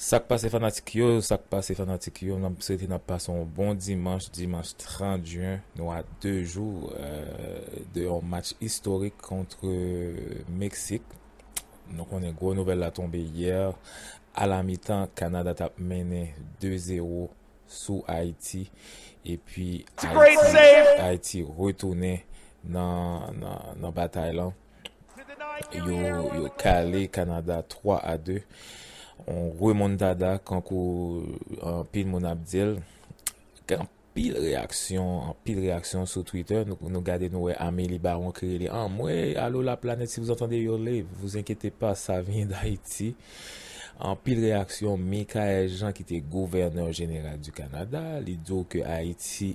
Sak pase fanatik yo sak pase fanatik yo nap swete nap pase yon bon dimanch dimanch 30 juin nou a 2 jou de yon match istorik kontre meksik nou konnen gwo nouvèl la tonbe yè a la mitan kanada tap mennen 2 zero sou ayiti epi ayiti retounen nan batay lan. Yo kale Kanada 3 a 2. On remontada kankou anpil moun ap di l. Gen anpil reyaksyon, anpil reyaksyon sou Twitter. Nou gade nou wè Amélie Baron ki rele Anmwey, alo la planèt si vous entendez hurler, vous inquiétez pas ça vient d'Haïti. Anpil reyaksyon, Michaelle Jean ki te gouvènè jeneral di Kanada, li di w ke Ayiti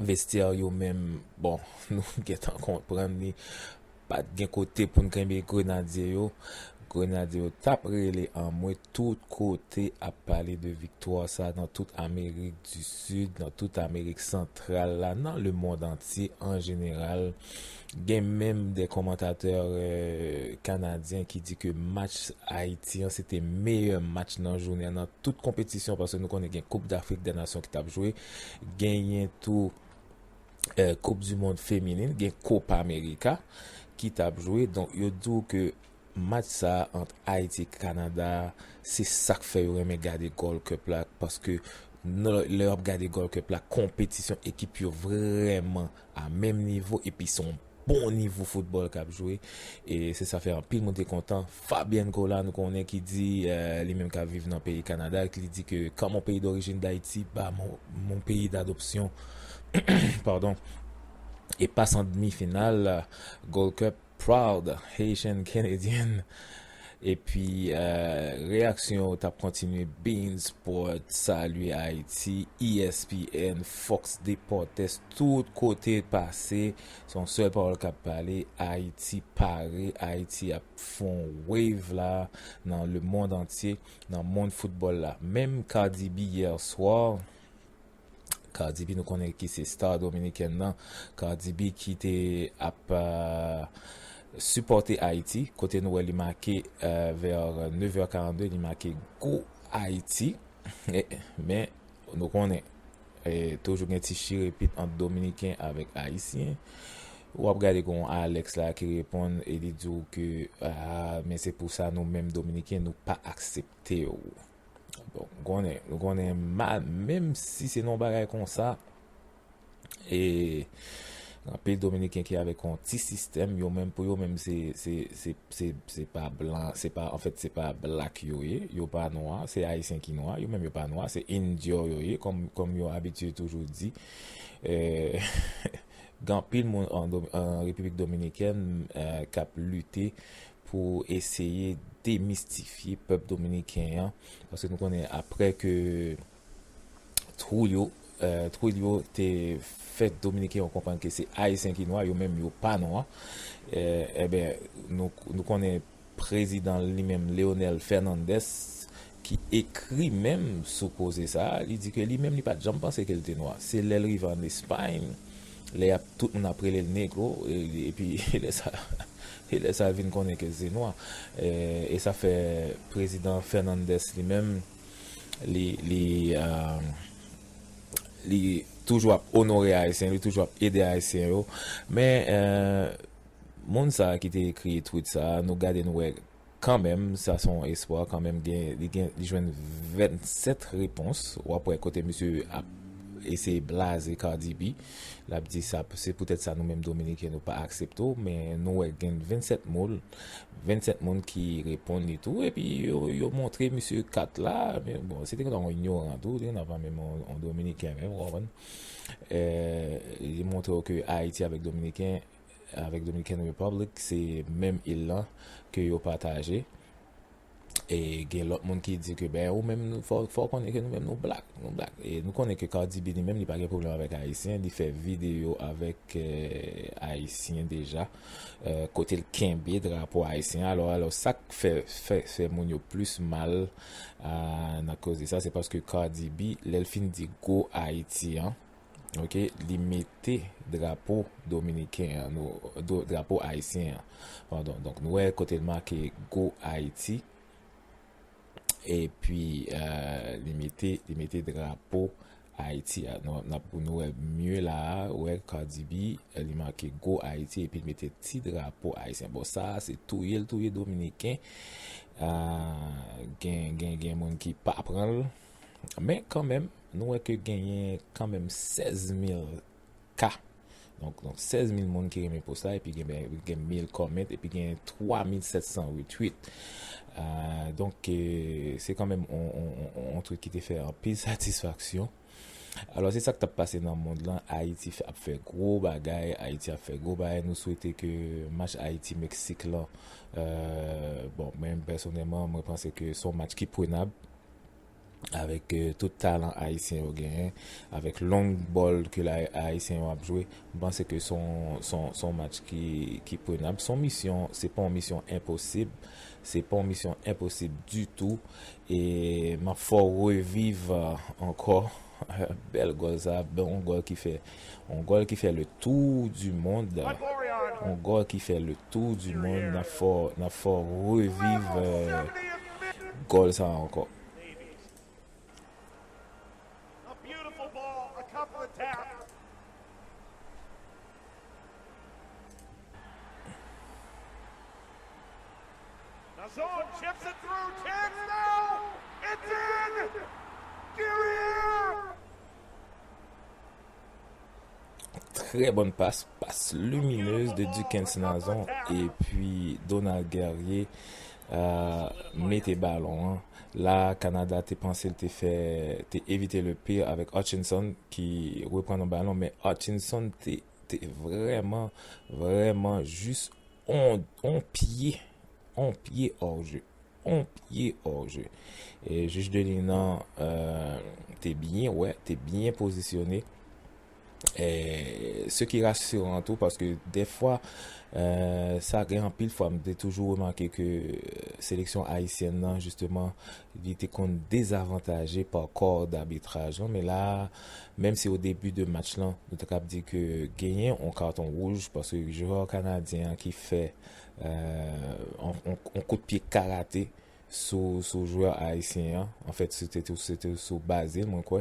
Vestiaire yo menm bon nou gentan konprann li pat gen kote poun kenbe grenadye yo, grenadye yo tap rele anmwe tout kote ap pale de viktwa sa nan tout amerik di sid nan tout amerik santral la nan le mond antye an jeneral gen menm de komantatè kanadyen ki di ke match ayiti an se te meyè match nan jounen nan tout konpetisyon paske nou konnen gen koup dafrik de nasyon ki tap jwe. Genyen tou koup di mond feminin, gen kopa amerika ki tap jwe. Donk yo di w ke match sa ant Ayiti ak Kanada se sak fè yo renmen gade Gold Cup la. Paske lè wap gade Gold Cup la konpetisyon ekip yo vreman a menm nivo epi son. bon nivo foutbòl kap jwe e se sa fè anpil moun te kontan. Fabian Cola nou konnen ki di li menm kap viv nan peyi Kanada e li di ke ka mon peyi dorijin Dayiti pa mon peyi dadopsyon padon e pas an demi final Gold Cup proud Haitian Canadian. Epi reyaksyon yo tap kontinye Beansport salye Ayiti ESPN Fox Deportes tout kote pase se yon sèl pawòl kap pale Ayiti pare Ayiti ap fè yon wave la nan lemond antye nan mond foutbòl la menm Cardi B yèswa Cardi B nou konnen ki se star dominikèn nan, Cardi B ki te ap sipòte Ayiti, kote nou wè li make vers 9 heures 42 li make Go Ayiti, men nou konnen toujou gen ti chire pit ant dominiken avèk ayisyen, wap gade gen yon Alex la ki reponn e li di w ke men se pou sa nou menm dominiken nou pa aksepte w. Bon, nou konnen, nou konnen mal, menm si se non bagay kon sa, e, nan peyi dominiken ki avek yon ti sistem, yo menm pou yo menm se, se, se, se, se pa blan, se pa, an fèt se pa black yo ye, yo pa nwa, se ayisyen ki nwa, yo menm yo pa nwa, se indio yo ye, kom, kom yo abitye toujou di, e, gen anpil moun an, an repiblik dominiken, e, kap lite. pou eseye demistifye pèp dominiken an, paske nou konnen aprè ke twou yo, twoull yo te fè dominiken yo konprann ke se ayisyen ki nwa, yo menm yo pa nwa, enben nou konnen prezidan li menm Leonel Fernandez ki ekri menm sou koze sa a, li di ke li menm li pa t janm panse ke l te nwa. Se lè l rive ann Espayn, lè y ap, tout moun ap rele l Negro, epi e lè sa, e lè sa l vin konnen ke l se nwa. E sa fè Prezidan Fernandez li menm, li, li, li toujou ap onore Ayisyen, li toujou ap ede Ayisyen yo. Men, moun sa a ki te ekri tweet sa a, nou gade nou wè. Kanmenm sa son espwa kanmenm gen li gen li jwenn 27 repons wap wè kote misye ap eseye blaze Cardi B lap di sa se poutèt sa nou menm dominiken nou pa aksepte w men nou wè gen 27 moun 27 moun ki reponn li tou epi yo montre misye kat la bon se te konn yon inyoran tou li konn menm yon dominiken menm ou konprann li montre w ke ayiti avèk dominiken avèk Dominican Republic se menm il lan ke yo pataje e gen lòt moun ki di ke ben ou menm fò ou konnen ke nou menm nou black nou black e nou konnen ke Cardi B li menm li pa gen pwoblèm avèk ayisyen li fè videyo avèk ayisyen deja kote l kenbe drapo ayisyen alò alò sak fè fè moun yo plis mal nan koze sa se paske Cardi B lè l fin di go Ayiti an. ok li mete drapo dominiken an nou drapo ayisyen an pardon donk nou wè kote l make go ayiti epi euh, li mete li mete drapo ayiti a nou nap pou nou wè mye la a wè Cardi B euh, li make go ayiti epi li mete ti drapo ayisyen bon sa a se touye l touye dominiken euh, gen gen gen moun ki pa pran l Men kanmenm, nou wè ke genyen kanmenm 16 mil ka. Donk, 16 mil moun ki renmen post la, epi gen mil comment, epi gen 3 mil 700 retweet. Donk, se kanmenm yon tweet ki te fè anpil satisfaksyon. Alò, se sa k t ap pase nan mond lan. Ayiti ap fè gwo bagay. Ayiti ap fè gwo bagay. Nou swete ke match Ayiti-Meksik lan, bon, mwen pèsonèman, mwen panse ke son match ki prenab. avèk tout talan ayisyen yo genyen, avèk long bòl ke ayisyen yo ap jwe, m panse ke se yon match ki prenab. Se yon misyon, se pa yon misyon enposib, se pa yon misyon enposib ditou e m ap fè w reviv ankò bèl gòl sa, bon gòl ki fè On gòl ki fè le tou di mond On gòl ki fè le tou di mond N ap fè w N ap fè w reviv gòl sa a ankò Très bonne passe, passe lumineuse de Dukens Nazon et puis Donald Guerrier euh, mete ballon an. La, Canada te panse te fè, te éviter le pire avec Hutchinson ki repran nan ballon, men Hutchinson te, te vreman, vreman jis on, on pye, on pye hors jeu. on pye òje. Jij Delina te byen wè, te byen pozisyone. Se ki rasiran tou paske defwa sa gen anpil fwa m te toujou remake ke seleksyon ayisyèn nan jisteman li te konn dezavantaje pa kò dabitraj lan. Men la, menm si o debi de match lan nou te kab di ke genyen on katon wouj paske jwè kanadyen an ki fè yon kout pye karate sou jwè ayisyen an, anfèt se te sou Bazil mwen kwè,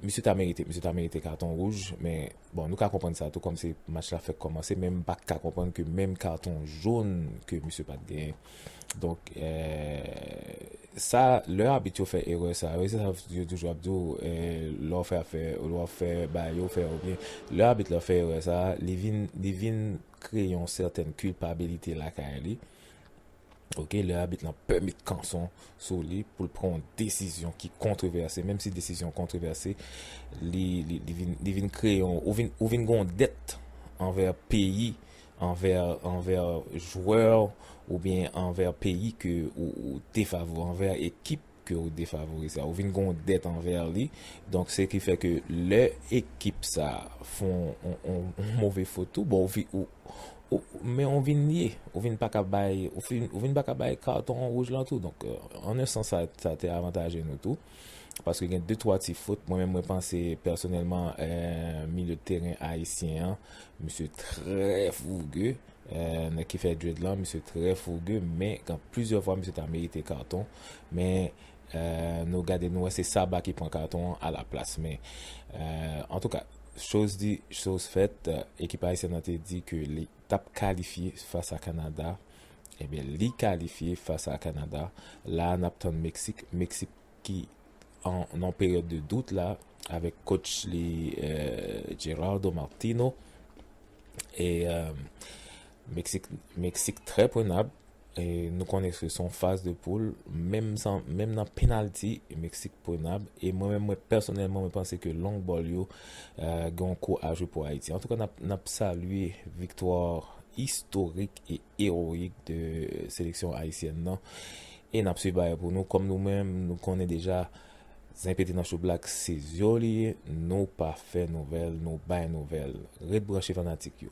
misye ta merite, misye ta merite katon wouj, men bon nou ka konprann sa tou kòm se match la fèk kòmanse, men m pa ka konprann ke menm katon jón ke misye pat genyen. Donk sa lè abit yo fè erè sa yo, se sa yo toujou ap di w lè w fè afè, lè w fè bagay yo fè yo byen, lè abit la fè erè sa li vin Kreye yon sètèn kilpabilite lakay li, ok, lè abit lan pè met kanson sou li pou l pran yon desizyon ki kontrevèse, menm si desizyon an kontrevèse, li, li, li vin, li vin kreye yon, ou vin, ou vin gen yon dèt anvè peyi, anvè, anvè jwè w oubyen anvè peyi ke ou, ou defavwe, anvè ekip. ke ou defavorize a, ou vin gen yon dèt anvè li, donk se ki fè ke lè ekip sa fon yon move fot tou, bon ou vin, ou, men ou vin ye, ou vin pa ka bay, ou vin pa ka bay katon wouj lan tou, donk an yon sans sa te avantaje nou tou, paske gen de twa ti fot, mwen menm mwen panse pèsonèlman milye teren ayisyen an, misye trè fouge, nèg ki fè dread lan, misye trè fouge, men gen plizyè fwa misye ta merite katon, Men nou gade nou wè se Saba ki pran katon an a la plas. Men antouka choz di choz fèt ekip Ayisyèn nan te di ke li tap kalifye fas a Kanada ebyen li kalifye fas a Kanada. La a nap tann Meksik, Meksik ki nan peryòd de dout la avèk kotch li Gerardo Martino e Meksik trè prenab, nou konnen se son faz de poul, menm nan penalti Meksik prenab, e mwen menm mwen pèsonèlman mwen panse ke long ball yo gen yon kou a jwe pou Ayiti. Antouka nap salye viktwa istorik e eroik de seleksyon ayisyèn nan e nap swiv bagay pou nou kòm nou menm nou konnen deja zen pete nan choublak se zyo li ye nou pa fè nouvèl nou bay nouvèl. Ret branche fanatik yo.